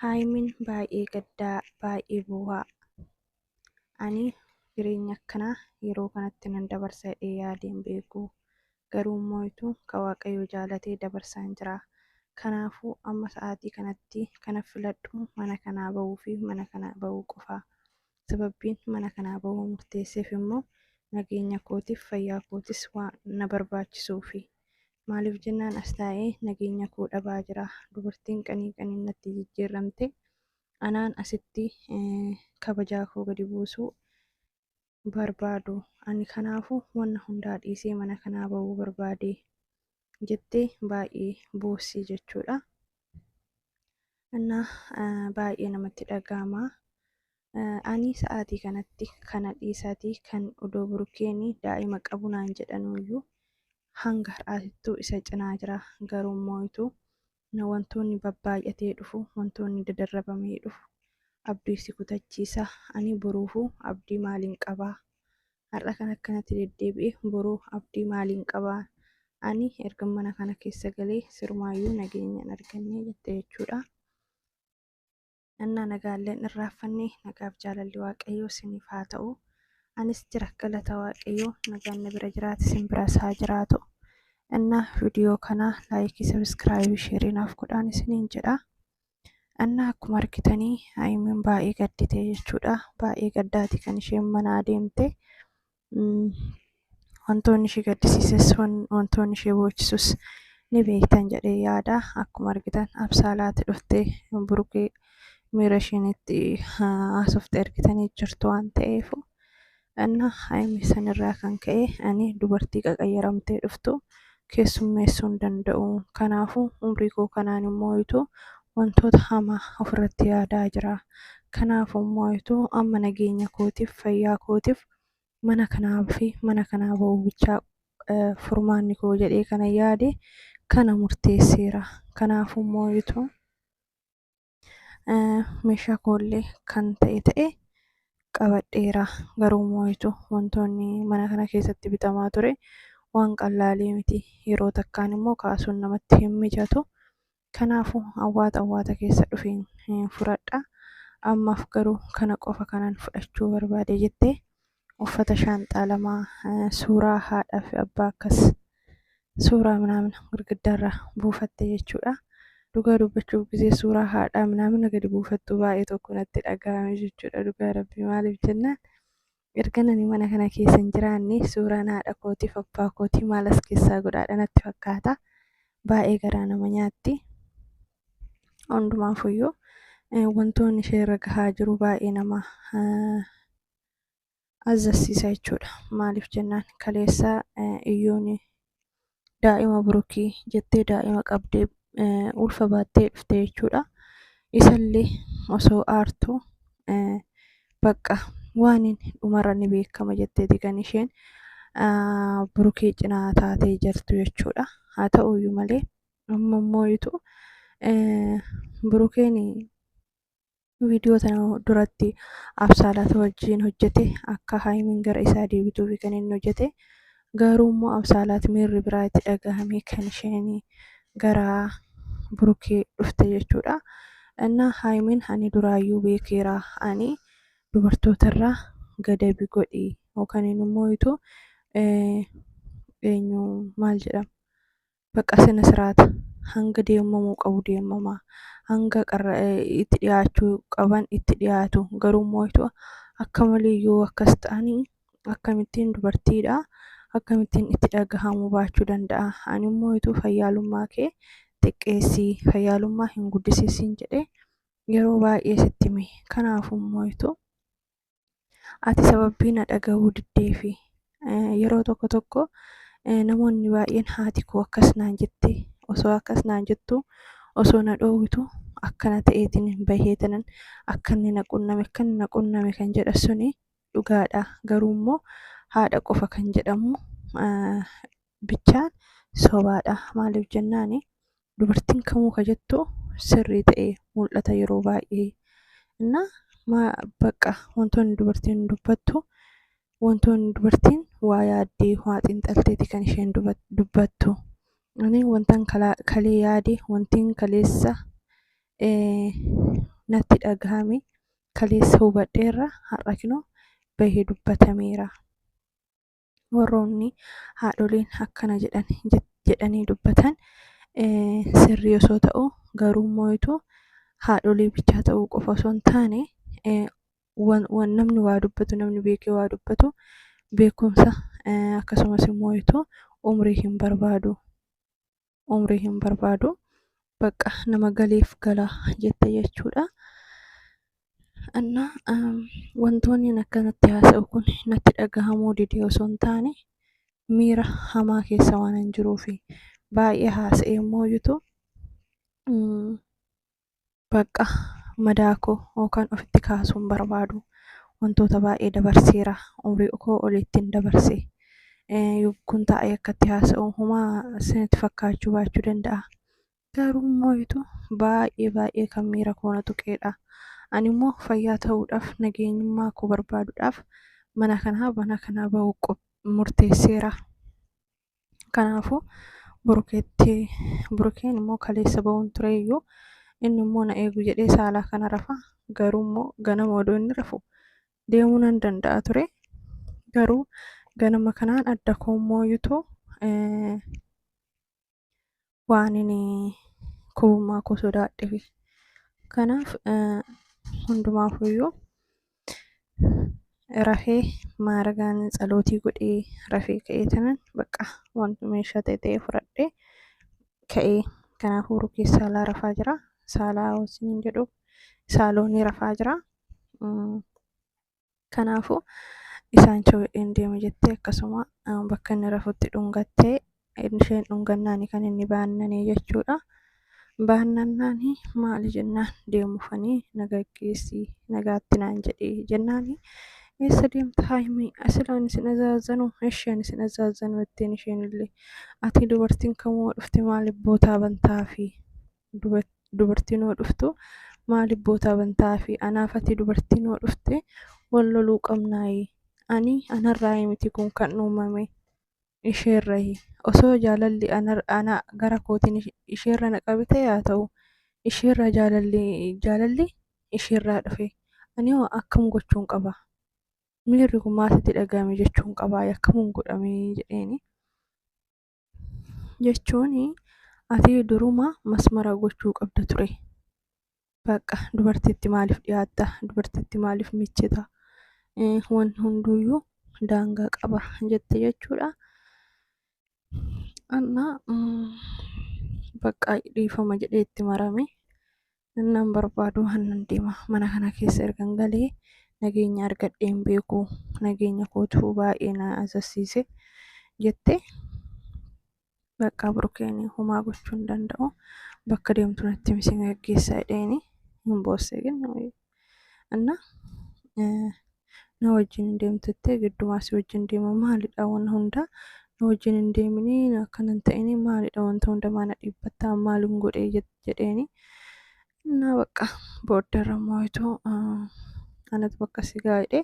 Haaymin baay'ee gaddaa baay'ee boohaa. Ani jireenya akkanaa yeroo kanatti nan dabarsa jedhee yaadee hin beeku. Garuu immoo itu ka Waaqayyo jaalatee dabarsaan jira. Kanaafuu amma sa'aatii kanatti kana filadhu mana kanaa bahuu fi mana kanaa bahuu qofa. Sababbiin mana kanaa bahuu murteesseef immoo nageenya kootiif fayyaa kootis waan na barbaachisuufi. Maaliif jennaan as taa'ee nageenya koo dhabaa jira. Dubartiin qanii qaniin natti jijjiirramte. Anaan asitti eh, kabajaa koo gadi buusuu barbaadu. Ani kanaafuu wanna hundaa dhiisee mana kanaa ba'uu barbaade jettee baay'ee boossii jechuudha. እና baay'ee namatti dhaga'ama. Ani sa'aatii kanatti kana dhiisaatii kan odoo burkeeni daa'ima qabu naan jedhanuyyuu hanga har'aatittuu isa cinaa jira. Garuu immoo ituu na wantoonni babbaay'atee dhufu wantoonni dadarrabamee dhufu abdii si kutachiisa. Ani boruufuu abdii maaliin qabaa? Har'a kan akkanatti deddeebi'e boru abdii maaliin qabaa? Ani erga mana kana keessa galee sirumaayyuu nageenyaan argannee jette jechuudha. Annaa nagaalleen irraaffanne nagaaf jaalalli waaqayyoo siniif haa ta'u. Anis jira galata waaqayyoo nagaan na bira jiraate sin biras haa jiraatu. Annaa viidiyoo kanaa laayikii sabiskiraaybii sheerii naaf godhaan isiniin jedha. Annaa akkuma argitanii Haayimiin baay'ee gaddite jechuudha. Baay'ee gaddaati kan isheen manaa deemte. Wantoonni ishee gaddisiises wantoonni ishee boochisus ni beektan jedhee yaada. Akkuma argitan absaalaati dhuftee burukee miira isheenitti haasofte argitanii jirtu waan ta'eefu. Anna Haayimi sanirraa kan ka'e ani dubartii qaqayyaramtee dhuftu keessummeessuu hin danda'u. Kanaafuu umrii koo kanaan immoo ituu wantoota hamaa ofirratti yaadaa jira. Kanaafuu immoo ituu amma nageenya kootiif fayyaa kootiif mana kanaa fi mana kanaa ba'uu bichaa eh, furmaanni koo jedhee kana yaade kana murteesseera. Kanaafuu immoo ituu meeshaa koollee kan ta'e ta'e qabadheera garuu moo'itu wantoonni mana kana keessatti bitamaa ture waan qallaalee miti yeroo takkaan immoo kaasuun namatti hin mijatu kanaafu awwaata awwaata keessa dhufeen fudhadha ammaaf garuu kana qofa kanan fudhachuu barbaade jettee uffata shaanxaa lama suuraa haadhaa fi abbaa akkas suuraa minaamin girgiddaarra buufatte jechuudha. Dhugaa dubbachuuf gisee suuraa haadhaa minaamina gadi buufattu baay'ee tokko natti dhaga'ame jechuudha dhugaa rabbii maaliif jennaan erga nani mana kana keessa hin jiraanne suuraan haadha kootiif abbaa kootii maal as keessaa godhaadha natti fakkaata baay'ee garaa nama nyaatti hundumaafuyyuu eh, wantoonni ishee irra gahaa jiru baay'ee nama eh, azzasiisa jechuudha. Maaliif jennaan kaleessa iyyoon daa'ima burukii jettee daa'ima qabdee ulfa baattee dhufte jechuudha. Isallee osoo aartu bakka waan dhumarra ni beekama jetteeti kan isheen burukee cinaa taatee jirtu jechuudha. Haa ta'uyyuu malee amma immoo ituu burukeen viidiyoo tana duratti absaalata wajjiin hojjete akka haayimiin gara isaa deebituufi kan inni hojjete garuu immoo absaalaat miirri biraa itti dhagahamee kan isheen gara burukee dhufte jechuudha innaa haayimiin ani duraayyuu beekeera ani dubartootarraa gadabi godhi yookaan immoo itu eenyu maal jedhama baqa sina siraata hanga deemamuu qabu deemamaa hanga itti dhiyaachuu qaban itti dhiyaatu garuu moo'atu akka malee yoo akkas ta'anii akkamittiin dubartiidha akkamittiin itti dhagahamuu baachuu danda'a ani moo'atu fayyaalummaa kee xiqqeessii fayyaalummaa hin guddisiisiin jedhee yeroo baay'ee sitti mee kanaafuu moo'atu ati sababii na dhaga'uu diddeefi yeroo tokko tokko namoonni baay'een haati koo akkas naan jette osoo akkas naan jettu osoo na dhoowwitu akkana ta'eetiin bahee tanan akkanni na qunname akkanni na qunname kan jedha suni dhugaadha garuu immoo haadha qofa kan jedhamu bichaan sobaadha. Maaliif jennaan dubartiin kamuu ka jettu sirrii ta'e mul'ata yeroo baay'ee. Innaa maa bakka wantoonni dubartiin dubbattu wantoonni dubartiin waa yaaddee waa xiinxalteeti kan isheen dubbattu. Ani wantan kalee yaade wantiin kaleessa natti dhagahame kaleessa hubadheerra har'a kinoo bahee dubbatameera. warroonni haadholiin akkana jedhan jedhanii dubbatan sirrii osoo ta'u garuu moo'itu haadholii bichaa ta'uu qofa osoo hin taane waan namni waa dubbatu namni beekee waa dubbatu beekumsa akkasumas moo'itu umrii hin barbaadu. umrii hin barbaadu bakka nama galeef gala jette jechuudha. Annaa wantoonni akkanatti haasa'u kun natti dhagahamuu didee osoo hin taane miira hamaa keessa waan hin jiruufi baay'ee haasa'ee immoo jitu Baqqa madaa koo yookaan ofitti kaasuu hin barbaadu. Wantoota baay'ee dabarseera. Umrii koo olittiin dabarse. Kun taa'ee akkatti haasa'u homaa isinitti fakkaachuu baachuu danda'a. Garuu immoo ituu baay'ee baay'ee kan miira koo na tuqeedha. Ani immoo fayyaa ta'uudhaaf nageenyummaa koo barbaaduudhaaf mana kanaa mana kanaa ba'uu murteesseera. Kanaafuu burukeetti burukeen immoo kaleessa ba'uun ture iyyuu inni immoo na eegu jedhee saalaa kana rafa garuu immoo ganama odoo inni rafu deemuu nan danda'a ture garuu ganama kanaan adda koo immoo yutu waanin kuummaa koo sodaadhefi. Kanaaf hundumaafuyyuu rafee maaragaan tsalootii godhee rafee ka'ee tanan bakka wanti meeshaa ta'e ta'ee fudhadhee ka'ee kanaaf hooruu keessa saalaa rafaa jira. Saalaa hoosiin jedhu saaloonii rafaa jira. Kanaafu isaan chowidheen deeme jettee akkasuma bakka inni rafutti dhungattee isheen dhungannaani kan inni baannanee jechuudha. Baannannaani maali jennaan deemufanii na gaggeessii nagaatti naan jedhee jennaani eessa deemta haayimii asilaan isin azaazanuu isheen isin azaazanuu jetteen isheen illee ati dubartiin kamuu dhufte maaliif bootaa bantaafii dubartiin hoo dhuftu maaliif bootaa bantaa fi anaaf ati dubartiin hoo dhufte wal loluu qabnaayi ani anarraa miti kun kan uumame isheerrahi osoo jaalalli ana gara kootiin isheerra na qabite yaa ta'u isheerraa jaalalli jaalalli isheerraa dhufe ani hoo akkam gochuun qaba miirri kun maasitti dhaga'ame jechuun qaba akkamuun godhame jedheeni. jechuun ati duruma masmara gochuu qabda ture. Bakka dubartiitti maaliif dhiyaatta? Dubartiitti maaliif michita? Eh, Wanni hunduuyyuu daangaa qaba jette jechuudha. Anna mm, bakka dhiifama jedhee itti marame. Innaan barbaadu hannan deema. Mana kana keessa ergan galee nageenya argadhee hin beeku. Nageenya kootu baay'ee na azassiise jette. Bakka burkeen homaa gochuu hin danda'u. Bakka deemtu natti himi si gaggeessa jedheeni hin boosse kenna. Anna na wajjin hin deemtuttee giddumaa si wajjin deema maalidha waan hundaa na wajjin hin deeminii na akkana hin ta'inii maalidha wanta hundamaa na dhiibbattaa maalin godhee jet- jedheeni na bakka booddarra mooyituu anatu bakka si gaa'idhe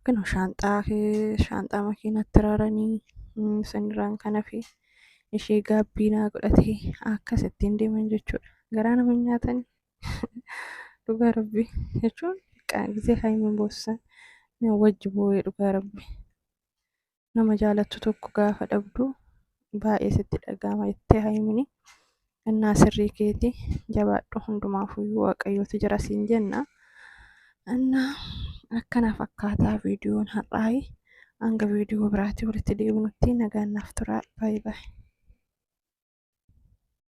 kinu shaanxaa kee shaanxaa makiinatti raranii mm, sanirraan kana fi ishee gaabbiinaa godhatee akkasittiin deeman jechuudha garaa nama hin nyaatanii dhugaa rabbi jechuun gisee haayimii boossan wajji boo'ee dhugaa rabbi nama jaalattu tokko gaafa dhabdu baay'ee sitti dhaga'ama jettee haayimini innaa sirrii keeti jabaadhu hundumaafuyyuu waaqayyootu jira siin jenna innaa akkana fakkaataa viidiyoon har'aayi hanga viidiyoo biraatti walitti deebinutti nagaan naaf turaa baay'ee baay'ee.